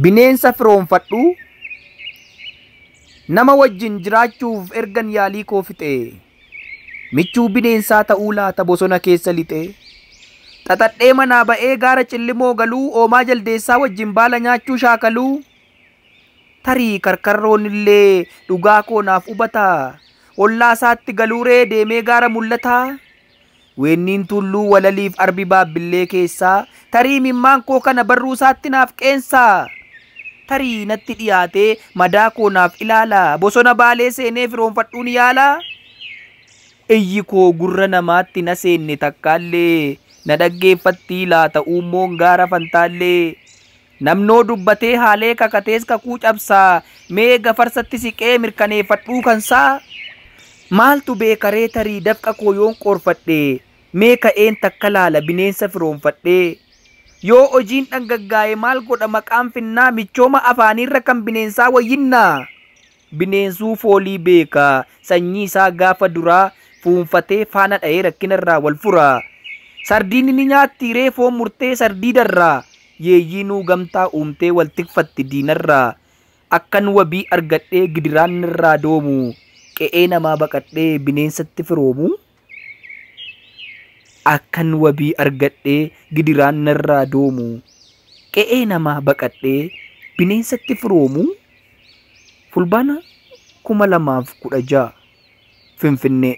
Bineensa firoomfadhu nama wajjin jiraachuuf ergan yaalii koo fixe michuu bineensaa ta'uu laata bosona keessa lixe xaxadhee manaa ba'ee gaara cillimoo galuu oomaa jaldeessaa wajjin baala nyaachuu shaakaluu tarii karkarroon illee dhugaa koo naaf hubataa ollaa isaatti galuuree deemee gaara mul'ataa Weenniin tuulluu walaliif arbi baabbillee keessaa Tarii imimmaan koo kana barruu isaatti naaf qeensaa Tarii natti dhiyaatee madaa koo naaf ilaalaa Bosona baalee seenee firoonfadhuun yaalaa Iyyi koo gurra namaatti na seenne takkaallee Na dhaggeeffattii laata uummoon gaara fantaallee Namnoo dubbatee haalee kakatees kakuu cabsaa mee gafarsatti siqee mirkaneefadhuu kansaa Maaltu beekaree tarii dafqa koo yoon qoorfadhe mee ka'een takka laala bineensa firoomfadhee Yoo hojiin dhangaggaa'e maal godha maqaan finnaa michooma afaaniirra kan bineensaa wayyinnaa? Bineensuu foolii beeka. Sanyii isaa gaafa duraa fuunfatee faana dhahee rakkina irraa wal fura. Sardiinni ni nyaatti hiree foon murtee sardiida irraa. Yeeyyiinuu gamtaa uumtee wal tikfatti diina irraa. Akkan wabii argadhee gidiraan narraa doomu. Qe'ee namaa baqadhee bineensatti firoomuu. Akkan wabii argadhee gidiraan narraa doomu, qe'ee namaa baqadhee bineensatti firoomu, Fulbaana 2016, Finfinnee.